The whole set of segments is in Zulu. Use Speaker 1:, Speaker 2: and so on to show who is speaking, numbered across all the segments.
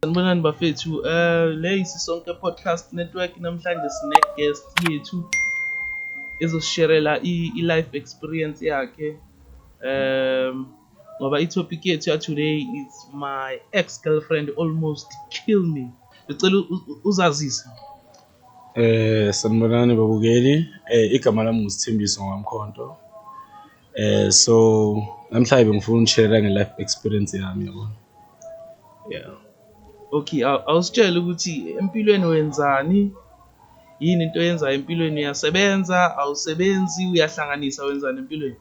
Speaker 1: Sanibonani bafethu um eh, le yisisonke podcast network namhlanje sine-guest yethu ezosisherela i-life experience yakhe um ngoba i-topic yethu ya-today is my ex girlfriend almost kill me ngicela uzazise Eh
Speaker 2: sanibonani babukeli eh igama lami nguSithembiso ngamkhonto Eh so namhlanje bengifuna ukushare nge life experience yami yabo. Yeah.
Speaker 1: Okay, awusitshela ukuthi empilweni wenzani? Yini into oyenzayo empilweni uyasebenza, awusebenzi, uyahlanganisa wenzani empilweni?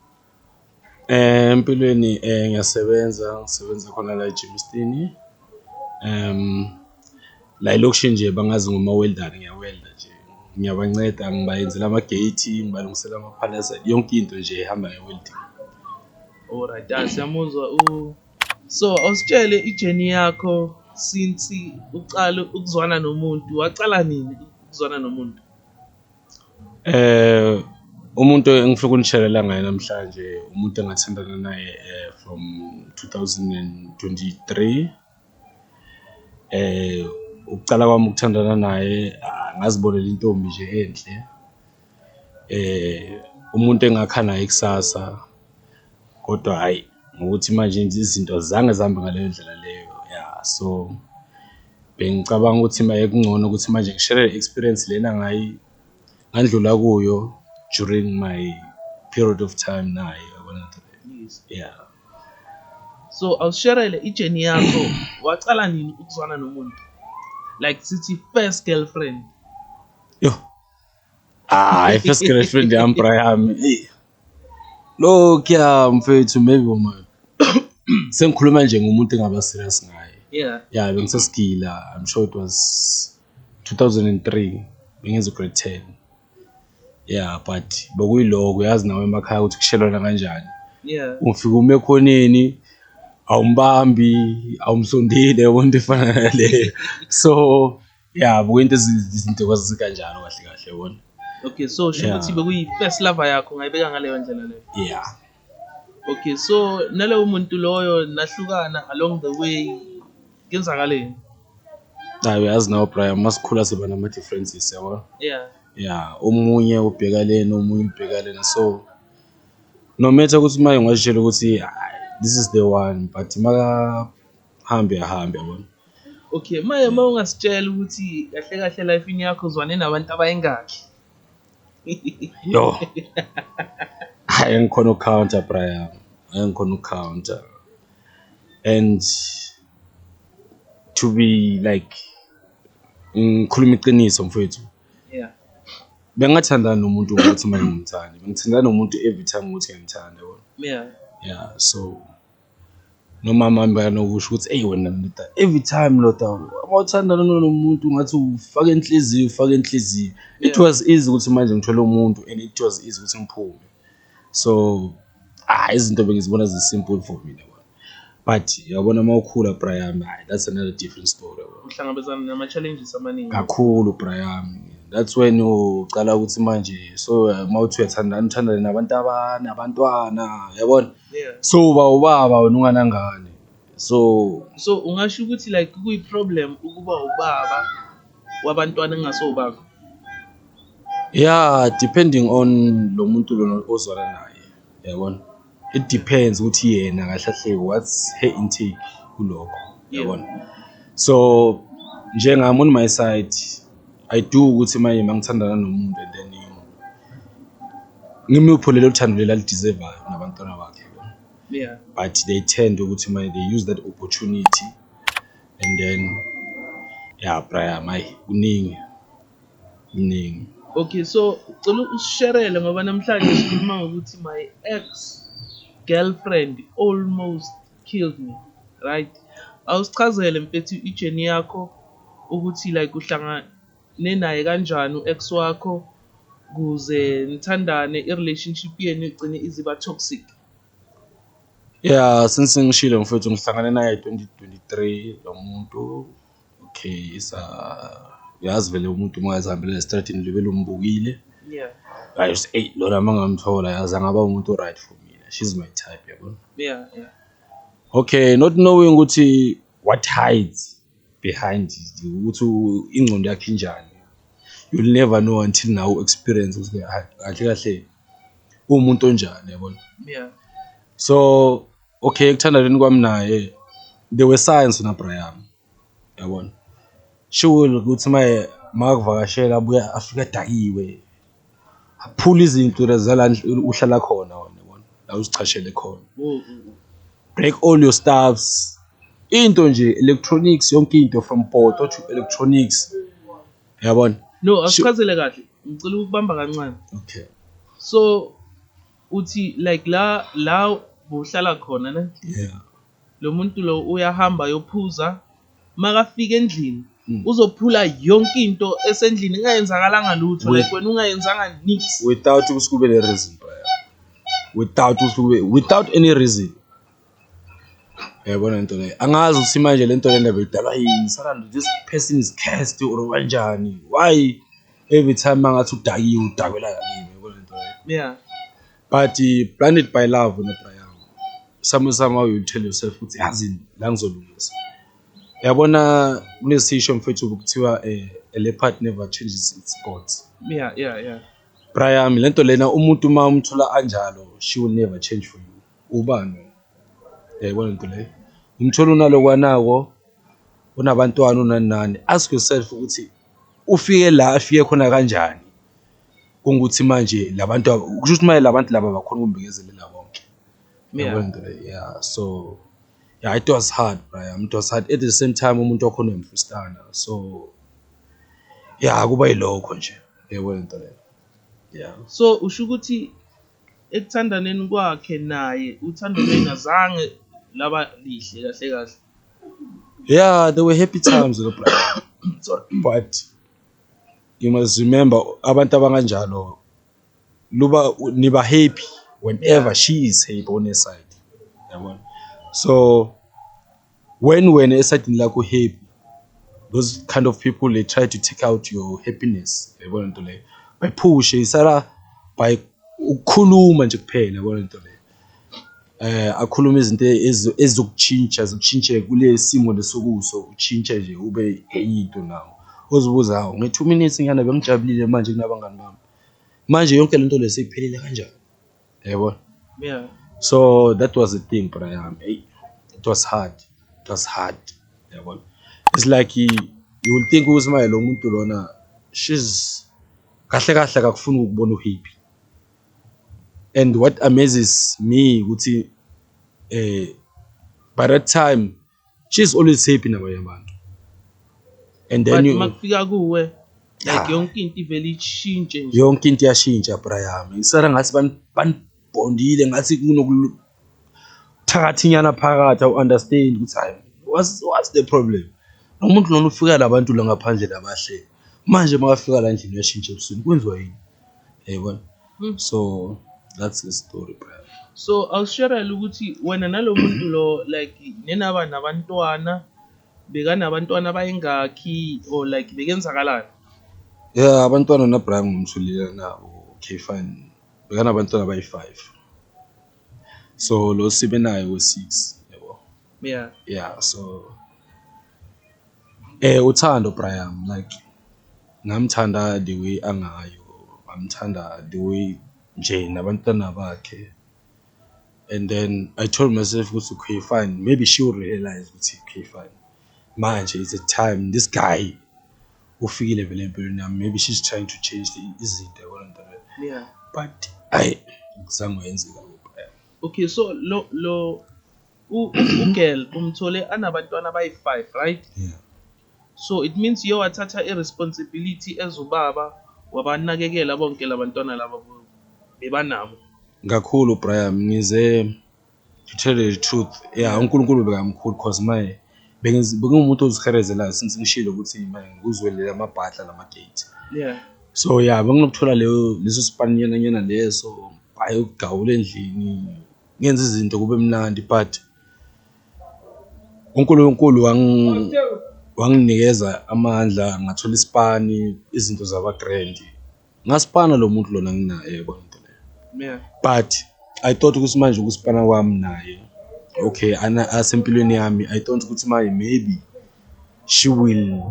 Speaker 1: Eh empilweni
Speaker 2: eh ngiyasebenza, ngisebenza khona la eGymstini. Um La elokishini nje bangazi ngomawelidani ngiyawelida nje, ngiyabanceda ngibayenzela ama-gate, ngibalungisela amaphalasa, yonke into nje ehamba nge-welding.
Speaker 1: Alright, ah, siyamuzwa u so awusitshele ijeni yakho since uqala ukuzwana nomuntu waqala nini ukuzwana nomuntu Eh
Speaker 2: umuntu engifuna ukunitshelela ngaye namhlanje umuntu engathandana naye eh, from 2023 Ukucala kwami ukuthandana naye ngazibonela intombi nje enhle umuntu engakha naye ikusasa kodwa hhayi ngokuthi manje nje izinto azange zihambe ngaleyo ndlela leyo, ya so bengicabanga ukuthi mayekuncono ukuthi manje ngi-share-re le experience lena ngandlula kuyo during my period of time naye, yabona nto leyo, ya.
Speaker 1: so awusherele ijeni yakho wacala nini ukuzwana nomuntu like sithi first girlfriend yo
Speaker 2: hayi ah, first girlfriend yami bra yami lokhuya mfethu maybe uma sengikhuluma nje ngomuntu engaba serious ngaye yeah yeah
Speaker 1: bengisesigila
Speaker 2: i'm sure it was 2003 bengenza grade 10 ya but bekuyiloko uyazi nawe emakhaya ukuthi kushelwana kanjani yeah ufika
Speaker 1: uma ekhoneni
Speaker 2: awumbambi awumsondile yabo into efana naleyo so ya bukuyinto izinto kwazikanjalo kahle kahle yabona okay so sho
Speaker 1: ukuthi bekuyi first lover yakho ngayibeka ngaleyo ndlela leyo yeah
Speaker 2: okay
Speaker 1: so nalowo muntu loyo nahlukana along the way kenzakaleni
Speaker 2: hayi uyazi nawo brian uma sikhula siba nama-differences yabo yeah ya
Speaker 1: omunye
Speaker 2: ubheka lena omunye ubheka lena so no matter ukuthi uma ungazitshela ukuthi this is the one but makahambe ahambe yabona okay
Speaker 1: maye uma ungasitshela ukuthi kahle kahle life yakho uzwane nabantu abayingakhi
Speaker 2: Yo. Hayi ngikhona ucounter Brian. Hayi ngikhona ucounter. And to be like ngikhuluma iqiniso mfowethu. Yeah.
Speaker 1: Bengathandana
Speaker 2: nomuntu ukuthi manje ngimthanda. Bengithandana nomuntu every time ukuthi ngiyamthanda. Yeah. Yeah,
Speaker 1: so
Speaker 2: Nomama wami bekanokusho ukuthi eyi wena ndoda every time ndoda uma uthandana nomuntu ngathi ufaka inhliziyo ufaka inhliziyo. It was easy ukuthi manje ngithole umuntu and it was easy ukuthi ngiphume. So hhayi izinto bengizibona zi-simple for mina kona but yabona uma ukhula bra yami hhayi that's another different story yabo. Uhlangabezana nama-challenges
Speaker 1: amaningi. Kakhulu bra
Speaker 2: yami. That's when ucala ukuthi manje so uma uthi uyathandana uthandane nabantu abanabantwana yabona. yeah so uba
Speaker 1: ubaba
Speaker 2: wena unganangane so so ungasho ukuthi
Speaker 1: like kuyi problem ukuba ubaba wabantwana engasowubakho
Speaker 2: yeah depending on lo muntu lona ozwana naye yabona it depends ukuthi yena kahle kahle what's her intake kulokho yabona so njengami on my side I do ukuthi manje mangithandana nomuntu and then ngimupho lelo thando leli alideservayo nabantwana bakhe yeah but
Speaker 1: they tend
Speaker 2: ukuthi manje they use that opportunity and then ya braya mayi kuningi kuningi
Speaker 1: okay so cela usisherele ngoba namhlanje sikhuluma ngokuthi my ex girlfriend almost killed me right awusichazele mfethu ijeni yakho ukuthi like uhlangane naye kanjani u-ex wakho kuze nithandane i-relationship yenu igcine iziba toxic
Speaker 2: ya since ngishilo mfethu ngihlangane naye 2023 lo muntu okay isa uyazi vele umuntu uma ezihambela esitradini libe lombukile yeah
Speaker 1: hayi uthi eyi
Speaker 2: lona uma ngamthola yazi angaba umuntu o-right for mina she's my type yabona yeah yeah okay not knowing
Speaker 1: ukuthi
Speaker 2: what hides behind it ukuthi u- ingqondo yakhe injani you'll never know until now experience ukuthi ha- kahle kahle uwumuntu onjani yabona yeah
Speaker 1: so
Speaker 2: Okay, ekuthandaneni kwami naye they were science na bra yami yabona shiwile ukuthi maye makakuvakashela abuye afike adakiwe aphula izinto zala uhlala khona wona yabona la uzichashele khona break all your stuffs into nje electronics yonke into from poto to electronics yabona no asichazele
Speaker 1: kahle ngicela ukubamba kancane okay
Speaker 2: so
Speaker 1: uthi like la la bohlala khona ne yeah
Speaker 2: lo muntu
Speaker 1: lo uyahamba yophuza makafika endlini hmm. uzophula yonke into esendlini ingayenzakalanga lutho like wena ungayenzanga nix without ukuthi kube le
Speaker 2: reason without ukuthi kube without any reason Uyayibona lento leyo angazi ukuthi manje lento le ndaba idalwa yini salando this person is cursed or kanjani why every time mangathi udakiwe udakwela yakini uyayibona lento leyo yeah
Speaker 1: but uh,
Speaker 2: blinded by love nebra yami somehow somehow you tell yourself ukuthi yazini la ngizolungisa yabona kunesisho mfethu kuthiwa eh, a leopard never changes its spots yeah
Speaker 1: yeah yeah Brian
Speaker 2: lento lena umuntu uma umthola anjalo she will never change for you Ubani? Yayibona into leyo. Umthola unalokwanako unabantwana unani nani. Ask yourself ukuthi ufike la afike khona kanjani. Kungukuthi manje labantu kusho ukuthi manje labantu laba bakhona ukumbekezelela konke. Yabona into leyo. Yeah so yeah it was hard braya it was hard at the same time umuntu wakho unemfustana so yeah kuba yilokho nje yabona into leyo. Yeah. So usho ukuthi
Speaker 1: ekuthandaneni kwakhe naye uthando lwengazange laba lihle kahle kahle yeah
Speaker 2: there were happy times lo brother but you must remember abantu abanganjalo luba niba happy whenever yeah. she is happy on her side yabona so When wena esayidini lakho happy those kind of people they try to take out your happiness yabona nto leyo bayiphushe isala by ukukhuluma nje kuphela yabona nto leyo eh akhuluma izinto ezizokutshintsha zikushintshe kule simo lesokuso utshintshe nje ube enye into nawo ozibuza hawo nge-2 minutes ngiyana bengijabulile manje kunabangani bami manje yonke lento leseyiphelile kanjani yabo yeah
Speaker 1: so that
Speaker 2: was the thing bra yami hey it was hard it was hard yabo it's like you will think ukuthi maye lo muntu lona she's kahle kahle akakufuni ukubona uhappy and what amazes me ukuthi eh by that time she's always happy nabanye abantu and then you makufika kuwe
Speaker 1: like yonke into ivele ishintshe nje yonke into iyashintsha bra
Speaker 2: yami ngisara ngathi banibhondile ngathi kunokuthakathinyana phakathi awu understand ukuthi hayi what's, what's the problem umuntu lona ufika labantu la ngaphandle labahle manje makafika la ndlini uyashintsha ebusuku kwenziwa yini yayibona mm. so that's the story brother so awusherele
Speaker 1: ukuthi wena nalo muntu lo like nenaba nabantwana bekanabantwana bayingakhi or like bekenzakalani yeah
Speaker 2: abantwana nabrian ngumthulile nabo okay fine bekanabantwana abayi-five so lo sibe naye we-six yabo yeah yeah so eh uthando Brian like ngamthanda the way angayo ngamthanda the way nje nabantwana bakhe and then I told myself ukuthi okay fine maybe she will realize ukuthi okay fine manje it's a time this guy ufikile vele empilweni yami maybe she's trying to change the izinto yabona nto leyo yeah but
Speaker 1: ayi
Speaker 2: ngizange wenzeka okay so
Speaker 1: lo lo ugirl umthole anabantwana abayi-five right yeah.
Speaker 2: so it
Speaker 1: means uye wathatha i-responsibility as ubaba wabanakekela bonke labantwana laba bebanabo kakhulu
Speaker 2: Brian ngize to tell the truth yeah uNkulunkulu bekamkhulu cause my bengumuntu oziherezelayo since ngishilo ukuthi ngikuzwelele amabhadla namagate yeah so
Speaker 1: yeah
Speaker 2: benginokuthola leyo leso sipaninyana nyana leso ayokugawula endlini ngenze izinto kube mnandi but uNkulunkulu wanginikeza amandla ngathola isipani izinto zaba-grand ngasipana lo muntu lona nginaye yabona into leyo but i thought ukuthi manje ukusipana kwami naye okay asempilweni yami i thought ukuthi manje maybe she will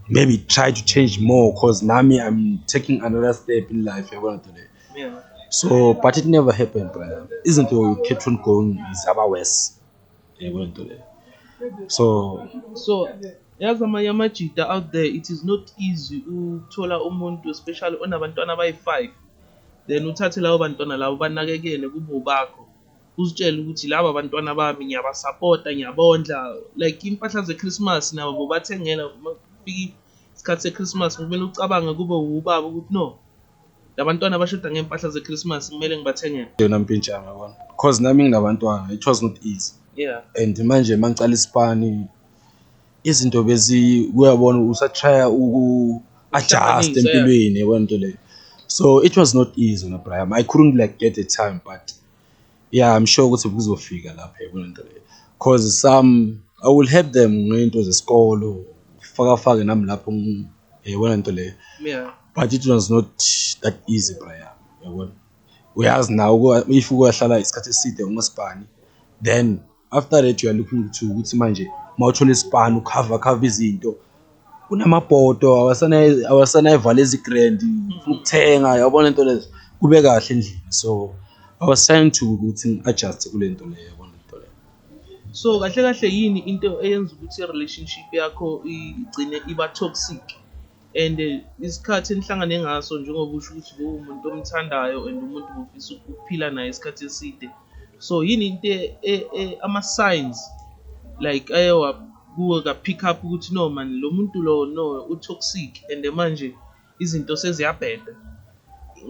Speaker 2: maybe try to change more cause nami i'm taking another step in life yabona into leyo yeah. so
Speaker 1: but it
Speaker 2: never happened brother izinto you kept on going zaba worse yebo yeah, into leyo so so yazi
Speaker 1: amanye amajita out there it is not easy ukuthola umuntu especially onabantwana abayi-five then uthathe labo bantwana labo banakekele kube ubakho uzitshele ukuthi laba bantwana bami ngiyabasapota ngiyabondla like impahla ze-christmas nabo bobathengela fika isikhathi se-christmas kumele ucabange kube wubaba ukuthi no Labantwana abashoda ngempahla zeChristmas kumele ngibathengele. Yona mpintshana yabona.
Speaker 2: Cause nami nginabantwana, it was not easy. Yeah. And manje
Speaker 1: mangicala
Speaker 2: isipani izinto bezi uyabona usatrya uku adjust empilweni yabona into leyo. So it was not easy na Brian. I couldn't like get the time but yeah i'm sure ukuthi kuzofika lapha kulento le cause some i will help them ngento zesikolo faka fake nami lapho yayibona into leyo yeah but it
Speaker 1: was not
Speaker 2: that easy braya yabona uyazi nawo if uyahlala isikhathi eside ungasibhani then after that you are looking to ukuthi manje mawuthola isipani ukhava khava izinto kunamabhodo awasanayivala ezigrand ukuthenga yabona into lezo kube kahle endlini so i was trying to ukuthi ngi-adjuste kule nto leyo yabona into leyo so kahle
Speaker 1: kahle yini into eyenza ukuthi i-relationship yakho igcine iba toxic and eh, isikhathi enihlangane ngaso njengoba usho ukuthi lowo umuntu omthandayo and umuntu ngofisa ukuphila naye isikhathi eside so yini into e, e, e, ama-signs like aye wakuwe ka-pick up ukuthi no mani lo muntu lo no u-toxic and manje izinto seziyabheda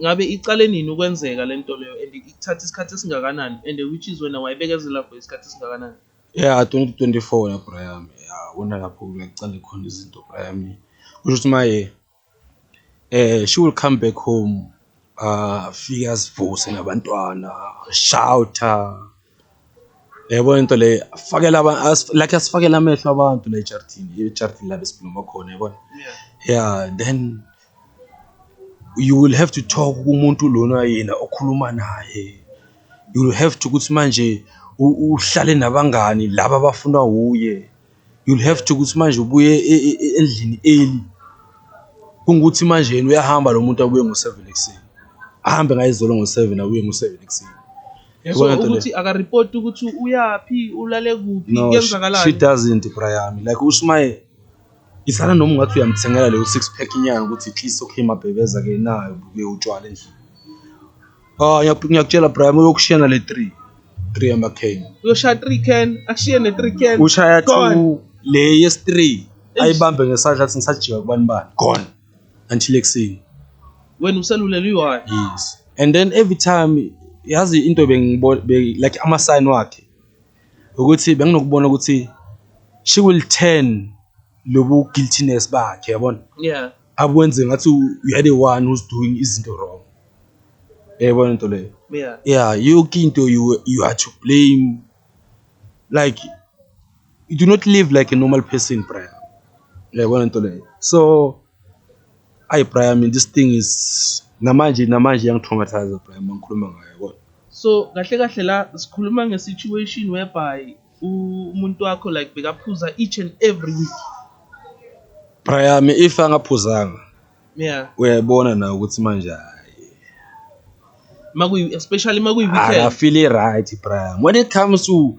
Speaker 1: ngabe iqale nini ukwenzeka le nto leyo and ikuthatha isikhathi esingakanani and which is wena wayibekezela for isikhathi esingakanani Yeah, 2024
Speaker 2: la bra yami yabona lapho kuyaqala khona izinto bra yami kusho ukuthi maye eh she will come back home afike azivuse nabantwana shouta yabona into le afakela like asifakela amehlo abantu la ejaridini ejaridini la besiphuma khona yabona yeah then You will have to talk kumuntu lona yena okhuluma naye, you will have to ukuthi manje uhlale nabangani laba abafunwa wuye, you will have to ukuthi manje ubuye e, e, e, endlini early kungukuthi manje yena uyahamba lo muntu abuye ngo-seven ekuseni ahambe ngayizolo ngo-seven abuye ngo-seven ekuseni so
Speaker 1: ukuthi akaripoti ukuthi uyaphi ulale kuphi kwenzakalani she doesn't bra
Speaker 2: yami like ushumayela Isana noma ungathi uyamthengela leyo six pack inyanga ukuthi at least okay mabhebeza ke nayo buke utshwala endlini ah ngiyakutshela Brian uyokushiyana le 3 3 ama can
Speaker 1: uyoshaya 3 can akushiye
Speaker 2: ne 3 can ushaya 2 le yes 3 ayibambe ngesandla athi ngisajika kubani bani gone until ekuseni wena
Speaker 1: uselulele uyi yes and then
Speaker 2: every time yazi into bengibona like ama sign wakhe ukuthi benginokubona ukuthi she will turn lobu guiltiness bakhe yabona yeah akwenze
Speaker 1: ngathi
Speaker 2: you are the one who's doing izinto wrong yayibona into leyo yeah yeah yonke into you you are to blame like you do not live like a normal person brother yayibona into leyo so Ayi Brian mina this thing is namanje namanje yangitraumathize Brian mangikhuluma ngayo kodwa. So kahle kahle
Speaker 1: la sikhuluma nge situation whereby umuntu wakho like bekaphuza each and every week.
Speaker 2: Brian if angaphuzanga. Yeah. Uyayibona na ukuthi manje hayi. Makuyi
Speaker 1: especially makuyi weekend. Akafili right
Speaker 2: Brian when it comes to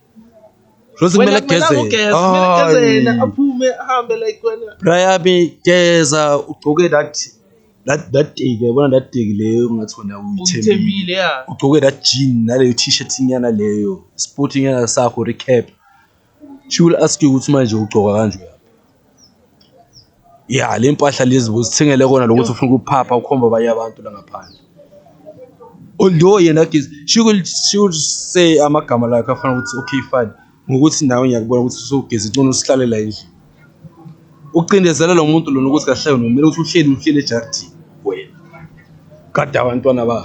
Speaker 2: Rose kumele ageze. Ah, aphume
Speaker 1: ahambe like wena. Brian
Speaker 2: geza ugcoke that that that day yabona that day leyo ngathi wena uyithembile. Ugcoke that jean naleyo t-shirt inyana leyo. Sporting yana sakho recap. She will ask you ukuthi manje ugcoka kanjani. ya le mpahla lezi uzithengele kona lokuthi ufuna ukuphapha ukhomba abanye abantu la ngaphandle although yena giz she will she will say amagama la afana ukuthi okay fine ngokuthi nawe ngiyakubona ukuthi usugeza incono usihlalela endlini ucindezela lo muntu lona ukuthi kahle wena kumele ukuthi uhleli uhleli ejaridini wena kade abantwana ba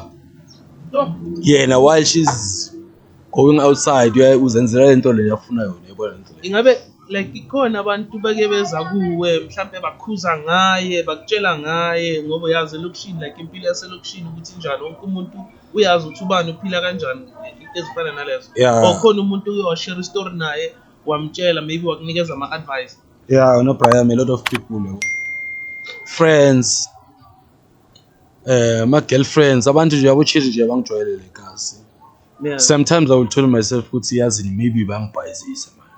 Speaker 2: yena while she's going outside uyaye uzenzela le nto le yafuna yona yabona le nto le ingabe like ikhona
Speaker 1: abantu beke beza kuwe mhlampe bakhuza ngaye bakutshela ngaye ngoba uyazi elokishini like impilo yaselokishini ukuthi njani wonke umuntu uyazi ukuthi ubani uphila kanjani into ezifana nalezo Yeah. or khona umuntu
Speaker 2: uke washare
Speaker 1: istory naye wamtshela maybe wakunikeza ama-advice yeah no brian
Speaker 2: a lot of people yabo friends um ama-girlfriends abantu nje yabochili nje abangijwayelele kazi Yeah. sometimes
Speaker 1: i will tell
Speaker 2: myself ukuthi yazini maybe bangibhayizisa mani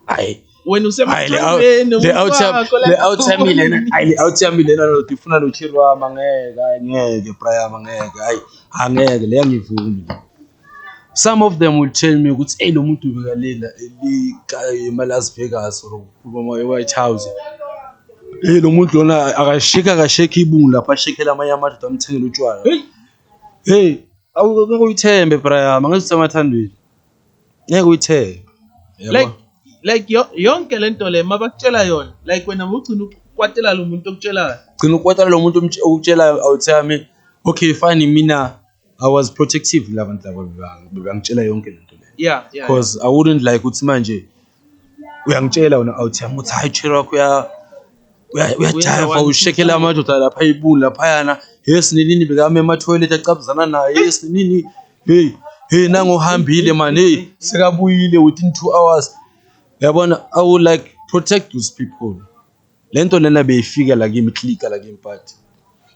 Speaker 2: hayi wena Hayi, le out- usemajwayeni
Speaker 1: le out yam-
Speaker 2: umfako, le like, out yami lena hayi le out yami lena lo ngifuna lo chiri wami angeke hayi ngeke prayama ngeke hayi angeke le angivumi Some of them will tell me ukuthi eyi lo muntu ubekalela ema-Las Vegas or kuma-White House eyi lo muntu lona akasheki akasheki ibungu lapho ashekela amanye amadoda amthengele utshwala heyi ngeke uyithembe brayama ngeke usemathandweni ngeke uyithembe like
Speaker 1: like yonke le nto le mabakutshela yona like wena ugcina ukwatela lo muntu okutshelayo gcina ukwatela lo muntu
Speaker 2: okutshelayo awuthami okay fine mina I was protective labantu laba bebangitshela yonke lento le yeah yeah because I
Speaker 1: wouldn't like
Speaker 2: ukuthi manje uyangitshela wena out yami ukuthi hayi chero wakho uya uyajava ushekela amadoda lapha ibuni laphayana yes ninini bekame ema toilet acabuzana naye yes ninini hey hey nangohambile man hey sekabuyile within 2 hours yabona i would like protect those people lento lena beyifika la kimi clicker la kimi but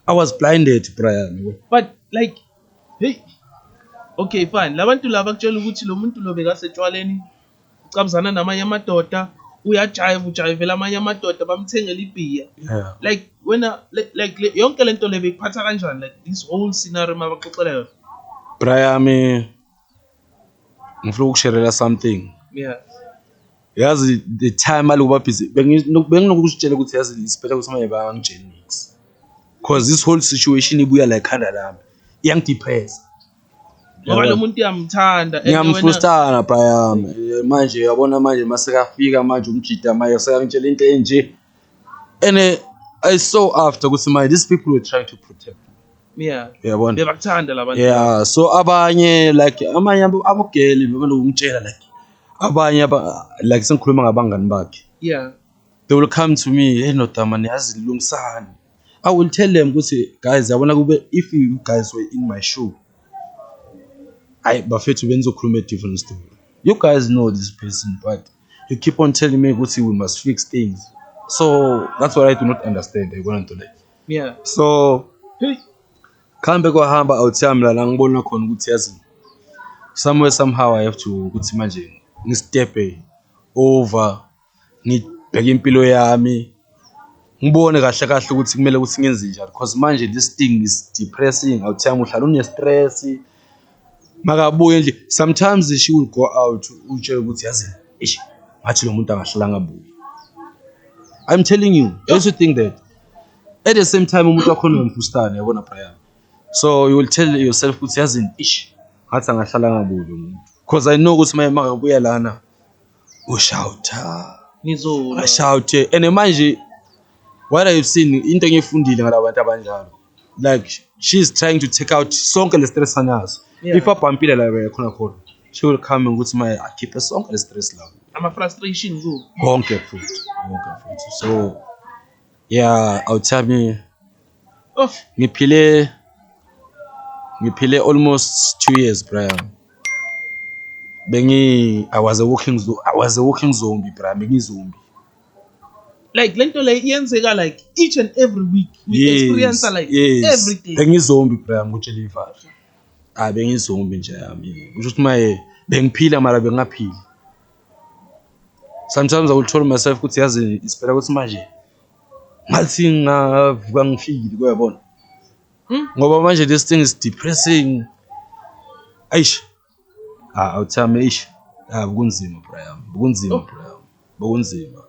Speaker 2: i was blinded Brian but like
Speaker 1: hey okay fine labantu laba kutshela ukuthi lo muntu lo bekasetshwaleni ucabuzana namanye amadoda uyajayiva ujayivela amanye amadoda bamthengela ibhiya yeah. like
Speaker 2: wena
Speaker 1: like, like le, yonke lento le bekuphatha kanjani like this whole scenario mabaxoxela yona Brian
Speaker 2: ngifuna ukusherela something yeah
Speaker 1: yazi
Speaker 2: the time aloku babhizi benginokuzitshela ukuthi yazi isiphetha ukuthi manje bangangitsheli nix because this whole situation ibuya la ekhanda lami iyangidepressa
Speaker 1: ngoba lo muntu uyamthanda ngiyamfrustana
Speaker 2: bhayami manje uyabona manje masekafika manje umjida manje sekangitshela into enje and uh, i saw after ukuthi my these people were trying to protect me yeah uyabona
Speaker 1: bebakuthanda
Speaker 2: labantu yeah
Speaker 1: so abanye
Speaker 2: like amanye abo- abogeli bebenokungitshela like abanye aba- like sengikhuluma ngabangani bakhe yeah
Speaker 1: they will come
Speaker 2: to me hey ndoda mani yazi lungisani i will tell them ukuthi guys yabona kube if you guys were in my shoe hayi bafethu benizokhuluma a different story you guys know this person but you keep on telling me ukuthi we must fix things so that's what i do not understand yayibona nto leyo yeah so
Speaker 1: hey
Speaker 2: khambe kwahamba awuthi yami lana ngibona khona ukuthi yazi somewhere somehow i have to ukuthi manje ngistephe over ngibheke impilo yami ngibone kahle kahle ukuthi kumele ukuthi ngenze njani because manje this thing is depressing awuthi yami uhlala une-stress makabuye nje sometimes she will go out utshela ukuthi yazi ish ngathi lo muntu angahlelanga buye i'm telling you don't you think that at the same time umuntu wakhona nomfustane yabona Brian so you will tell yourself ukuthi yazi ish ngathi angahlelanga buye lo muntu because i know ukuthi maye makabuya lana ushawutha ngizona
Speaker 1: ashawuthe and
Speaker 2: manje what i've seen into engiyifundile ngalabantu abanjalo like she's trying to take out sonke le stress anazo yeah. if abhampile la yakhona khona she will come and ukuthi maye akhiphe sonke le stress la ama frustration
Speaker 1: ku konke futhi
Speaker 2: konke futhi so yeah awuthami oh ngiphile ngiphile almost 2 years Brian bengi i was a walking i was a walking zombie Brian bengi zombie
Speaker 1: like lento le iyenzeka like each and every week we yes, experience like yes. every day bengizombi bra ngutshela
Speaker 2: ivalo hayi bengizombi nje yami kusho ukuthi maye bengiphila mara bengaphili sometimes i will tell myself ukuthi yazi isiphela ukuthi manje ngathi ngavuka ngifile kuyabona hmm? ngoba manje this thing is depressing aish Ah, awuthame ish. Ah, kunzima bra yami. Kunzima oh. bra yami. Bokunzima.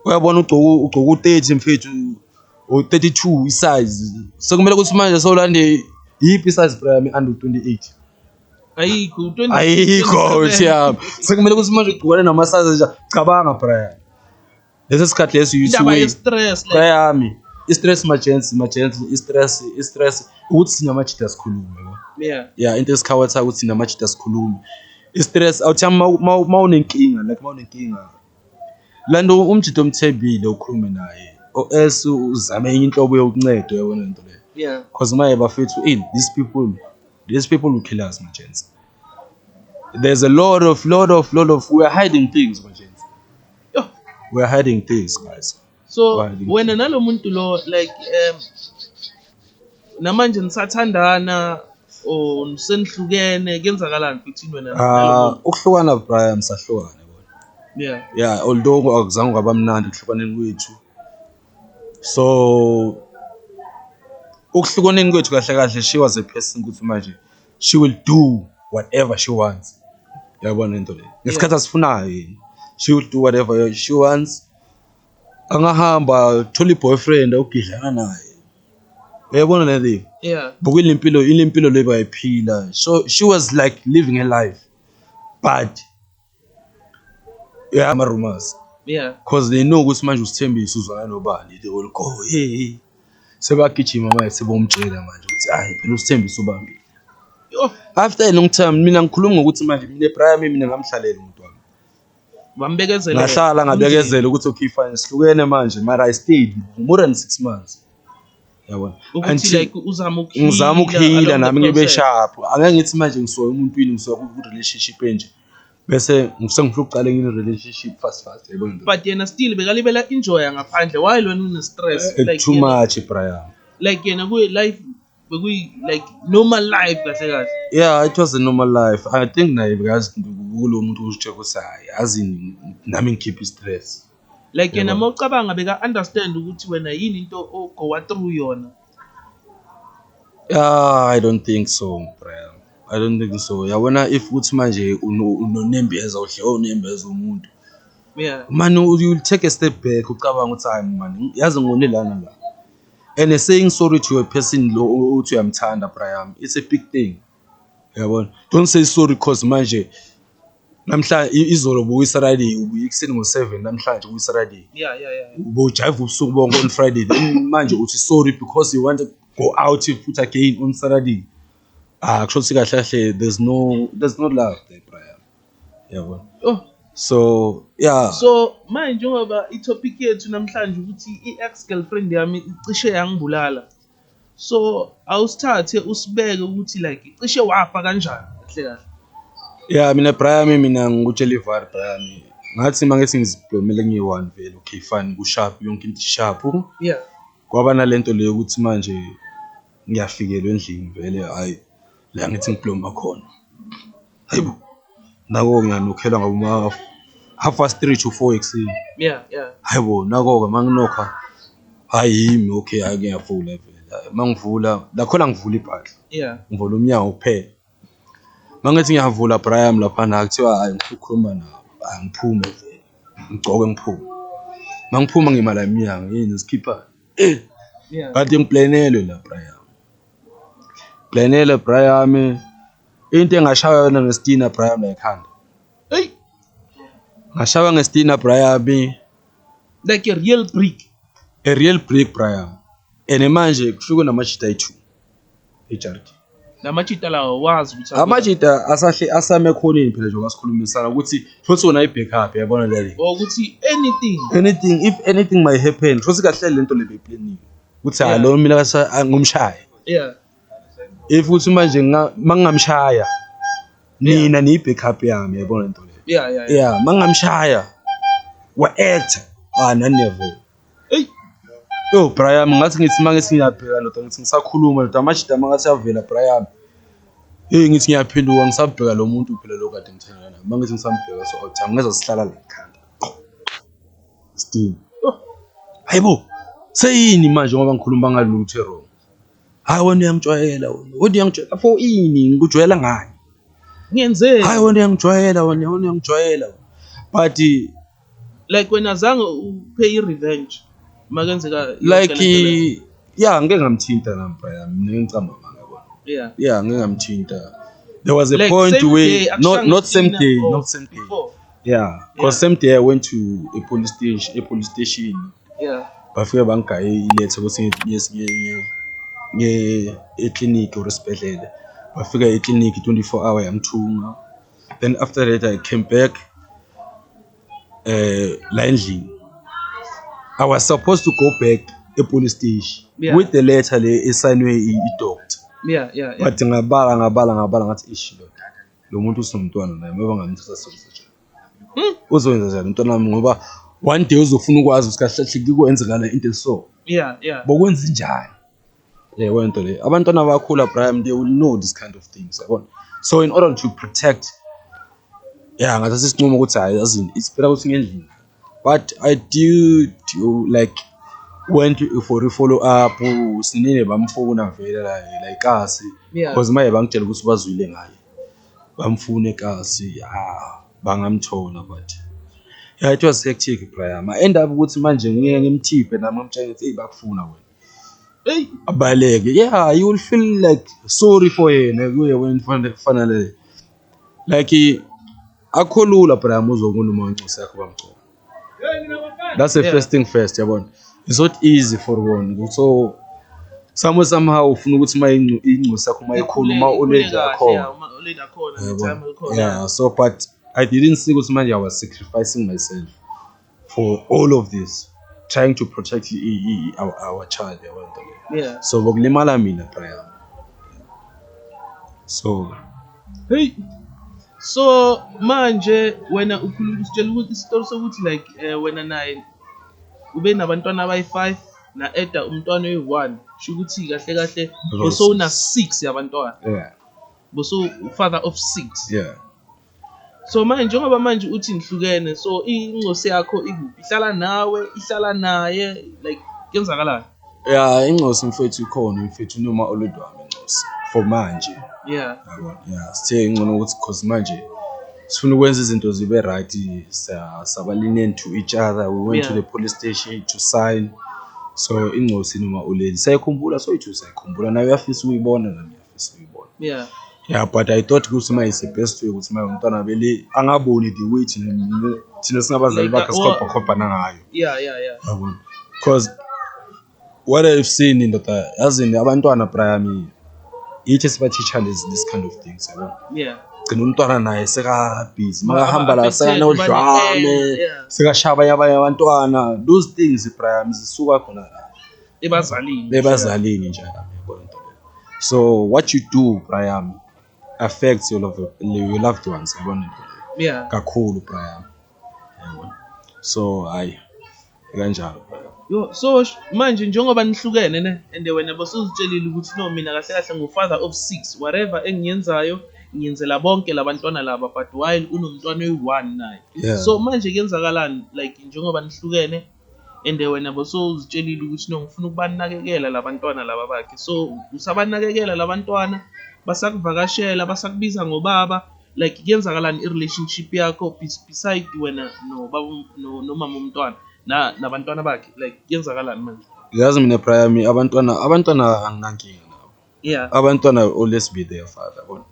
Speaker 2: Uyabona ugcoku ugcoku 30 mfethu. O 32 isize. Sekumele ukuthi manje sowulande yipi size bra yami under 28.
Speaker 1: Ayikho 20. Ayikho
Speaker 2: siyami. Sekumele ukuthi manje ugcokane nama size nje. Cabanga bra yami. lesi sikhathi lesi uyithiweyami
Speaker 1: i-stress
Speaker 2: majensi majensi i-stress i-stress ukuthi thina majida sikhulume ya into
Speaker 1: esikhawatha ukuthi
Speaker 2: thina majida sikhulume i-stress awuthi uma unenkinga like uma unenkinga la nto umjida omthembile ukhulume naye or else uzame enye inhlobo yokuncedo yabona nto leyo because maye
Speaker 1: bafethu
Speaker 2: in these people these people will kill us majensi there's a lot of lot of lot of we are hiding things majensi
Speaker 1: Yo. We're hiding
Speaker 2: things guys. So wena
Speaker 1: nalomuntu lo like um namanje nisathandana or senihlukene kenzakalani futhi wena ah ukuhlukana Brian
Speaker 2: sahlukana yeah
Speaker 1: yeah although
Speaker 2: akuzange kwaba mnandi kuhlukaneni kwethu so ukuhlukaneni kwethu kahle kahle she was a person ukuthi manje she will do whatever she wants yabona into le ngesikhathi asifunayo yini she will do whatever she wants angahamba thola i-boyfriend ogidlana naye uyabona le live yeah buka ile mpilo
Speaker 1: ile
Speaker 2: mpilo le bayiphila so she was like living her life but Yeah, ama-rumors. Yeah. Cause they
Speaker 1: know ukuthi manje
Speaker 2: usithembisa uzwana nobani they will go hey. Sebagijima manje sebomtshela manje ukuthi hayi phela usithembisa ubambile. After a long time mina ngikhuluma ngokuthi manje mina ebraya mina ngamhlalela umuntu wami. Wambekezela.
Speaker 1: Ngahlala ngabekezela
Speaker 2: ukuthi okay fine sihlukene manje mara I stayed more than 6 months. yabona ukuthi like
Speaker 1: uzama ukuhila ngizama
Speaker 2: ukuhila nami ngibe sharp angeke ngithi manje ngisoya umuntu wini ngisoya ku relationship enje bese ngisengifuna ukuqala enye relationship fast fast yabona but yena still
Speaker 1: bekalibela enjoy ngaphandle why lona une stress eh, like too much
Speaker 2: Brian like yena ku
Speaker 1: life bekuyi like normal life kahle kahle yeah it was a
Speaker 2: normal life i think naye bekazi kulo muntu uzitshela ukuthi hayi azini nami ngikhipha i stress like yena uma
Speaker 1: ucabanga beka understand ukuthi wena yini into ogowa through yona ah
Speaker 2: i don't think so bro i don't think so yabona if uthi manje unonembeza uhle onembeza oh, umuntu yeah
Speaker 1: man you
Speaker 2: take a step back ucabanga ukuthi hayi man yazi ngone lana la and saying sorry to a person lo uthi uyamthanda bra yami it's a big thing yabona don't say sorry cause manje namhlanje i- izolo buyi-Saturday ubuye ekuseni ngo-7 namhlanje kuyi-Saturday Yeah, yeah, yeah.
Speaker 1: ubojayiva
Speaker 2: ubusuku bonke on Friday then manje uthi sorry because you want to go out futhi again on Saturday ah kusho ukuthi kahle kahle there's no there's no love there Brian yabona Oh, so yeah so manje njengoba
Speaker 1: i-topic yethu namhlanje ukuthi i-ex girlfriend yami icishe yangibulala. so awusithathe usibeke ukuthi like cishe wafa kanjani kahle kahle ya
Speaker 2: mina brayami mina ngikutshela ivar brayami ngathi uma ngethi ngizibhomele ngiyi-one vele okay fine kusharp yonke into isharp yeah
Speaker 1: kwaba nale nto
Speaker 2: le yokuthi manje ngiyafikelwa endlini vele hhayi la ngithi ngiplomba khona hayibo nako-ke ngiyanokhelwa ngoba uma half past three to four ekuseni yeah yeah
Speaker 1: hayibo nako-ke
Speaker 2: uma nginokha hhayi yimi okay hhayi ngiyavula vele Hhayi, uma ngivula lakhona ngivula ibhadla yeah ngivula umnyango
Speaker 1: kuphela
Speaker 2: uma ngithi ngiyavula brian laphana kuthiwa hhayi ngifuna ukukhuluma nawo hhayi ngiphume vele ngigcoke ngiphume uma ngiphuma ngima la emnyango yini zikhipha yeah
Speaker 1: kade ngiplenelwe
Speaker 2: la brian Ngenile bra yami into engashaywa yona ngesitina bra yami ekhanda eyi ngashaywa ngesitina bra yami like
Speaker 1: a real brick a real brick bra
Speaker 2: yami and manje kufike namajita ayi-two ejaridi namajita
Speaker 1: lawo wazi ukuthi amajita asahle
Speaker 2: asame ekhoneni phela njengoba sikhulumisana ukuthi futhi wona i-backup yabona lale ukuthi anything
Speaker 1: anything
Speaker 2: if anything might happen futhi kahle lento le beyipleniwe ukuthi hayi lo mina kasa- ah, ngumshaye yeah
Speaker 1: if
Speaker 2: ukuthi manje nga- ma ngingamshaya nina niyi-backup yami yabona nto leyo yeah yeah yeah yeah ma ngingamshaya wa-actor ah naneve Eyi.
Speaker 1: yo
Speaker 2: brian ngathi ngithi ma ngithi ngiyabheka ndoda ngithi ngisakhuluma ndoda amajida ma ngathi avela brian eyi ngithi ngiyaphenduka ngisabheka lo muntu phela lo kade ngithandana naye ma ngithi ngisambheka so othi angeza sihlala la ekhanda Steam. Oh. Hayibo. Seyini manje ngoba ngikhuluma ngalutho wrong. Hayi wena uyangijwayela wena. Wena uyangijwayela for ini ngikujwayela ngani? Ngenzeni?
Speaker 1: Hayi wena uyangijwayela
Speaker 2: wena, wena uyangijwayela. But
Speaker 1: like wena zange upay i-revenge makenzeka like
Speaker 2: ya ngeke ngamthinta nampa yami mina ngicamba manga bona yeah yeah ngeke ngamthinta there was a like, point where not not same day not same day yeah because same day i went to a police station a police station yeah
Speaker 1: bafike bangigaye
Speaker 2: ilethe ukuthi ngiye ngiye ngiye eclinic or esibhedlela bafika eclinic 24 hour yamthunga then after that i came back eh la endlini i was supposed to go back epolice station Yeah. with the letter le esignwe i- idoctor yeah yeah yeah but
Speaker 1: ngabala
Speaker 2: ngabala ngabala ngathi ish lo data lo muntu usinomntwana naye ngoba ngamthatha sokuzatsha hmm? uzowenza njani umntwana wami ngoba one day uzofuna ukwazi ukuthi kahle kahle kukwenzekala into eso yeah yeah bokwenza
Speaker 1: njani
Speaker 2: le wento le abantwana bakhula Brian they will know this kind of things yabona so in order to protect yeah ngathatha isinqumo ukuthi hayi azini isipela ukuthi ngendlini but i did you like went for i-follow up sinile bamfuna vele la la ikasi Yeah. because maye bangitshela ukuthi bazwile ngaye bamfuna ekasi ya bangamthola but yeah it was hectic Brian I end up ukuthi manje ngeke ngimthiphe nami ngimtshela ukuthi hey bakufuna wena hey
Speaker 1: abaleke
Speaker 2: yeah you will feel like sorry for yena kuye wena fanele like akho lula but ayamuzwa umuntu uma uncosi yakho bamgcoba that's the yeah. first thing first yabona it's not easy for one so somehow somehow ufuna ukuthi uma ingcosi yakho uma ikhulu uma ulenze akhona yeah so but i didn't see ukuthi manje i was sacrificing myself for all of this trying to protect i- i- i- our, our child yabo nto leyo Yeah. so bokulimala mina bra yami so Hey.
Speaker 1: So manje wena ukhuluma usitshela ukuthi isitori sokuthi like eh, wena naye ube nabantwana abayi-5 na-eda umntwana oyi-1 sho ukuthi kahle kahle Rose. bosowuna-6 yabantwana yeah boso father of 6 yeah so manje njengoba manje uthi nihlukene so ingcosi yakho ikuphi ihlala nawe ihlala naye like kwenzakalani ya ingcosi
Speaker 2: mfethu ikhona mfethu noma oludwami ingcosi for manje yeah yeah sithe ingcono ukuthi cause manje sifuna ukwenza izinto zibe right sabalinen to each other we went yeah. to the police station to sign so ingcosi noma uleli sayikhumbula soyithu sayikhumbula nayo uyafisa ukuyibona nami esiyibona yeah yeah but i thought ukuthi uma is the best way ukuthi uma umntwana beli angaboni the way thina thina singabazali bakhe sikhophakhobhana ngayo yeah yeah yeah yabona because what i've seen indoda yazini abantwana prayami yithi sibathisha lezi this kind of things yabona yeah gcina umntwana naye sekabhizi makahamba la sekanodlame sekashaya abanye abanye abantwana those things prayami zisuka khona la ebazalini bebazalini nje yabo into le. so what you do Brian affects your loved, your loved ones yabona into le. yeah kakhulu Brian yabona so hayi kanjalo Brian Yo, so sh- manje
Speaker 1: njengoba nihlukene ne and wena bosuzitshelile ukuthi no mina kahle kahle ngu-father of six whatever engiyenzayo ngiyenzela bonke labantwana laba but while unomntwana oyi-one naye yeah so manje kuyenzakalani like njengoba nihlukene and wena bosowuzitshelile ukuthi no ngifuna ukubanakekela labantwana laba bakhe so usabanakekela labantwana basakuvakashela basakubiza ngobaba like kuyenzakalani i-relationship yakho beside wena nobaba nomama umntwana nabantwana bakhe like kuyenzakalani manje yazi mina prior me
Speaker 2: abantwana abantwana anginankinga nabo yeah abantwana always be there father bona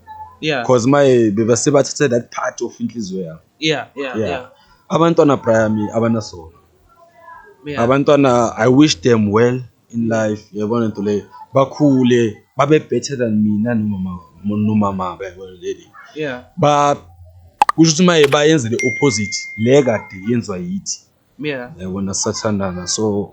Speaker 2: yeah because my bebase bathathe that part of inhliziyo yami yeah yeah Yeah. yeah abantwana brayami abanasono yeah abantwana i wish them well in life yabona nto leyo bakhule babe better than mina nomama nomama yabona leli yeah ba kusho ukuthi maye bayenzele opposite le kade yenziwa yithi yeah yabona sathandana so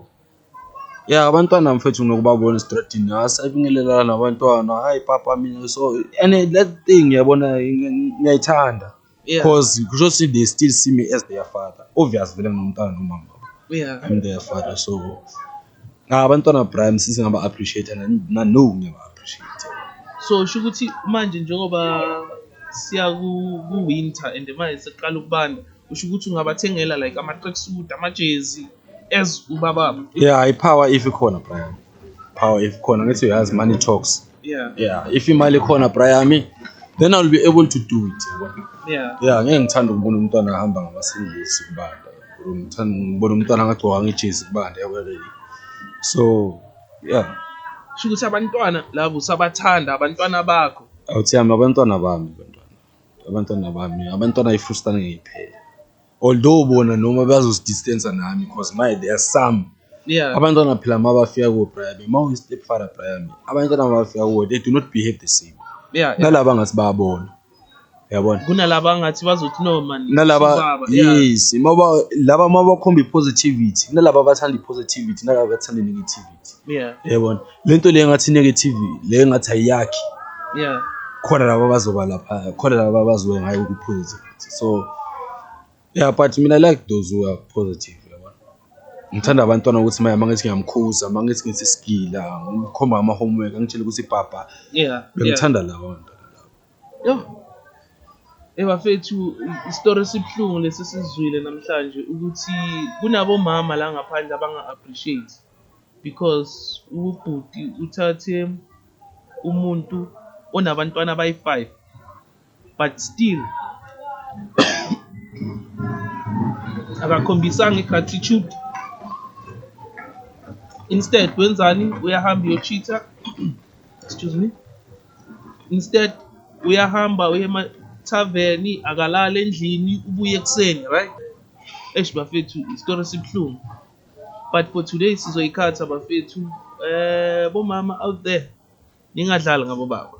Speaker 2: ya abantwana mfethu nokubabona esitradini asabingelelana nabantwana hayi papa mina so and that thing yabona ngiyayithanda Yeah. because kusho ukuthi they still see me as their father obvious vele ngumntana nomama yeah I'm their father so Ah, abantwana Brian sisi ngaba appreciate na na- no ngiyaba appreciate. so sho ukuthi
Speaker 1: manje njengoba siya ku- ku-winter and manje sekuqala ukubanda usho ukuthi ungabathengela like ama-tracksuit amajezi as ubababo Yeah, ipower if
Speaker 2: ikhona Brian. Power if ikhona ngithi uyazi money talks. yeah yeah if imali khona brayami then i'll be able to do it yeah yeah ngeke ngithanda ukubona umntwana ahamba ngamasingisi kubanda ngibona umntwana angagcoka ngejezi kubanda yakwelele so yeah
Speaker 1: sho ukuthi abantwana labo usabathanda abantwana bakho awuthi yami
Speaker 2: abantwana bami abantwana abantwana bami abantwana ifustane ngiyiphela although bona noma bazozidistansa nami cause my there are some yeah abantwana
Speaker 1: phela uma bafika
Speaker 2: kobrayami uma uyi-step father brayami abantwana uma bafika kuwe they do not behave the same yeah, yeah. nalaba ngathi
Speaker 1: bayabona
Speaker 2: yabona kunalaba ngathi
Speaker 1: bazothi no man nalaba sobaba, yeah.
Speaker 2: yes
Speaker 1: uma ba-
Speaker 2: laba uma bakhomba i-positivity kunalaba abathanda i-positivity nalaba abathanda i-negativity yeah yebona
Speaker 1: lento le
Speaker 2: ngathi negative le ngathi ayakhi yeah
Speaker 1: khona laba
Speaker 2: abazoba lapha khona laba abazoba ngayo ku positive so yeah but mina like those who are positive ngithanda abantwana ukuthi manje mangithi ngiyamkhuza mangithi ngithi sigila ngikhomba ama homework angitshela ukuthi papa yeah bengithanda
Speaker 1: lawa
Speaker 2: Yho!
Speaker 1: Eyi bafethu isitori esibuhlungu lesi esizwile namhlanje ukuthi kunabomama la ngaphandle abanga-appreciate because ubhuti uthathe umuntu onabantwana abayi-five but still akakhombisanga i-gratitude instead wenzani uyahamba uyochitha excuse me instead uyahamba uye ema-tavern akalali endlini ubuye ekuseni right eish bafethu isitori esibuhlungu but for today sizoyikhatha bafethu eh bomama out there ningadlali ngabo baba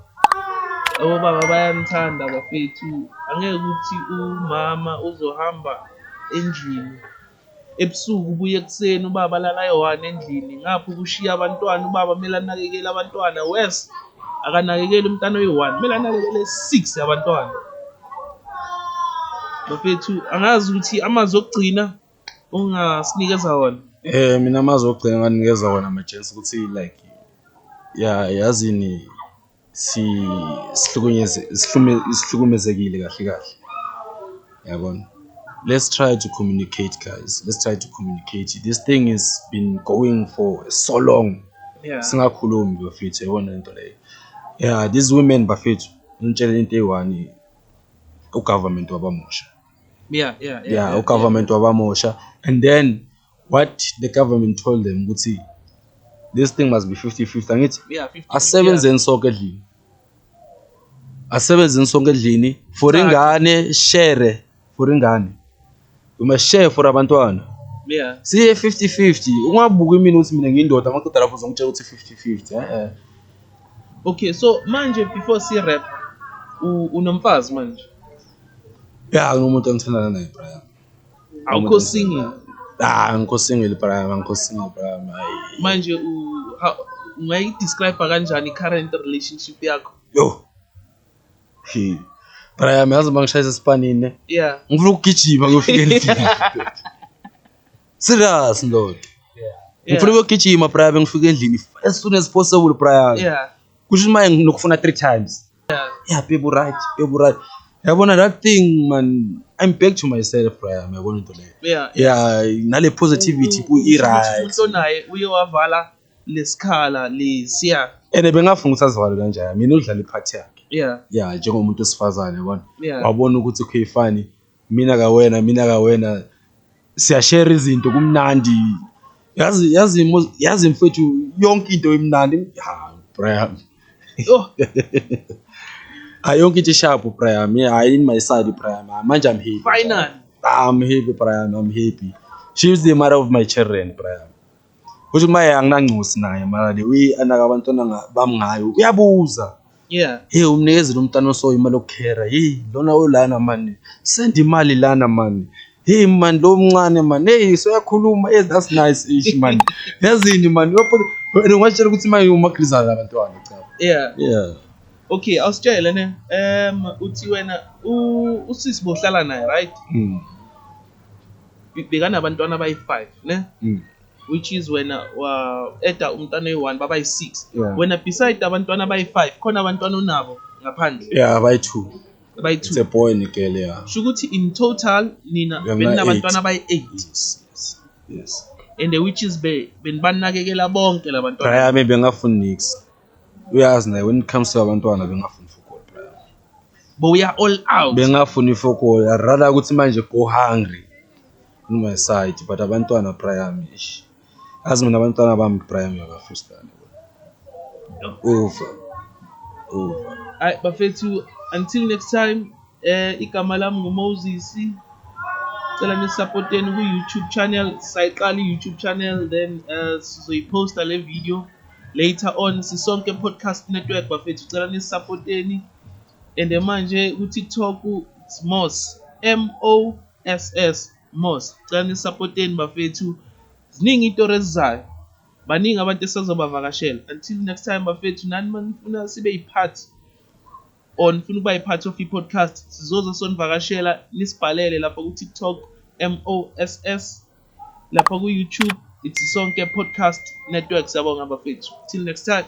Speaker 1: abobaba bayanithanda bafethu angeke ukuthi umama uzohamba endlini Ebusuku ubuya ekuseni ubaba alala eyohana endlini ngapha ukushiya abantwana ubaba kumele anakekele abantwana worse akanakekeli umntana oyi-one kumele anakekele six abantwana bafethu angazi ukuthi amazwi okugcina ongasinikeza wona eh mina amazwi
Speaker 2: okugcina nganikeza wona majensi ukuthi like ya yazini sihlukumezekile kahle kahle yabona let's try to communicate guys let's try to communicate this thing has been going for so long yeah. singakhulumi bafethu yabona into leyo yeah these women bafethu ngitshela into eyi-one ugovernment wabamusha yeah, yeah, yeah, yeah, yeah ugovernment yeah. wabamusha and then what the government told them ukuthi this thing must be 50-50 angithi yeah, 50, asebenzeni yeah. sonke edlini asebenzeni sonke edlini for ingane share for ingane we must share for abantwana yeah. siye 50-50 ungabuki imini ukuthi mina ngiyindoda amadoda lapho uzongitshela ukuthi 50-50 eh,
Speaker 1: eh. okay so manje before si rap unomfazi manje ya yeah,
Speaker 2: nginomuntu engithandana naye brian awukho
Speaker 1: single ah angikho
Speaker 2: single bra angikho single bra
Speaker 1: manje ungayidescribe kanjani i-current relationship yakho yo he
Speaker 2: bra yami yazi uma ngishayisa esipanini yeah ngifuna ukugijima ngiyofika endlini serious ndoda ngifuna ukuyogijima bra yami ngifika endlini as soon as possible bra yami yeah kusho imali nokufuna three times yeah babe right babe right yabona that thing man i'm back to myself Brian yabona into leyo yeah yeah nale positivity ku i right umuntu onaye uye
Speaker 1: wavala lesikhala lesiya ene bengafunga ukuthi
Speaker 2: azivale kanjani mina udlala iphathi yakhe yeah yeah njengomuntu osifazane yabona yeah wabona ukuthi khuyifani Mina kawena mina kawena siyashare izinto kumnandi yazi yazi yazi mfethu yonke into imnandi ha Brian oh ayonke into sharp Brian hayi in my side Brian manje I'm happy finally I'm
Speaker 1: happy
Speaker 2: Brian I'm happy she's the mother of my children Brian Uthi uma anginangcosi naye mara le uyi-anaka abantwana nga- bami ngayo uyabuza yeah hey umnikezile umntana oso imali yokukhera hey lona olana mani send imali lana mani hey mani lo mncane mani hey soyakhuluma hey that's nice ish mani yazini mani uyaphola and ungatshela ukuthi manje umagrizana abantwana cha yeah yeah okay
Speaker 1: awusitshele ne um uthi wena u- usisi bohlala naye right mm. bekanabantwana abayi-five ne mm. which is wena wa-eda umntwana oyi-one babayi-six yeah. wena beside abantwana abayi-five khona abantwana onabo ngaphandle yeah abayi-two
Speaker 2: abayi-two it's a boy and a girl yeah sho ukuthi in
Speaker 1: total nina beninabantwana abayi-eight yes, yes.
Speaker 2: yes. and the which
Speaker 1: is benibanakekela bonke labantwana yeah, maybe angafuni nix
Speaker 2: Uyazi naye when it comes to abantwana bengafuni football player. But we are
Speaker 1: all out. Bengafuni football.
Speaker 2: I rather ukuthi manje go hungry on my side but abantwana Brian ish. Azi mina abantwana bami Brian uyabafrustana. Over. Over.
Speaker 1: Alright, bafethu until next time Eh igama lami nguMoses. Cela nisupporteni ku YouTube channel. Sayiqala i YouTube channel then uh, sizoyiposta le video later on sisonke podcast network bafethu cela nisupporteni. And manje ku TikTok it's Moss M O S S Moss. Cela nisupporteni bafethu. Ziningi itori ezizayo. Baningi abantu esazobavakashela. Until next time bafethu nani manifuna sibe yipart or nifuna ukuba yi-part of i-podcast sizoze sonivakashela nisibhalele lapha ku-tiktok moss lapha ku-youtube ithi sonke podcast network siyabonga bafethu till next time